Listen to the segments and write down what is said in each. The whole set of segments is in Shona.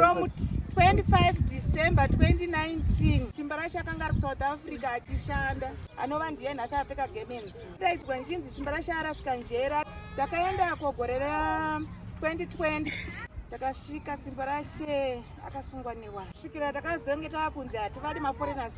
From 25 December 2019 Simbarashi akanga ari kusouth Africa achishanda anova ndiye nhasi apfeka gemensu daidzwa nchinzi Simbarashi arasika njera takaenda kogore ra 2020 takasvika Simbarashe akasungwa newa svikira takazonge tava kunzi hativadi maforeigners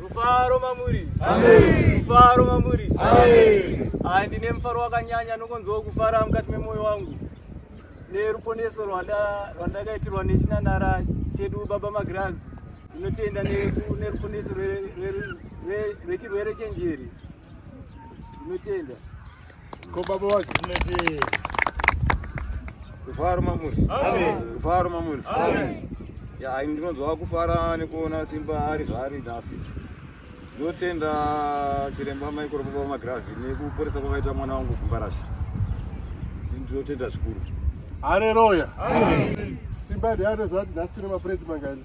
Mufaro mamuri. Amen. Mufaro mamuri. Amen. Hai ndine mufaro wakanyanya nokonzwa kufara mukati memoyo wangu neruponeso rwandakaitirwa nechinanara chedu baba magirazi inotenda neruponeso rwechirwere chenjeri inotenda Ko baba wa Gilead. Kufara mamuri. Amen. Kufara mamuri. Amen. Ya ini ndinonzwa kufara nekuona Simba ari zvaari nhasi. Ndinotenda chiremba mai koro baba Magrazi nekuporesa kwakaita mwana wangu Simba Rasha. Ndinotenda zvikuru. Haleluya. Amen. Simba ndiye anozvati nhasi tine mapureti mangani.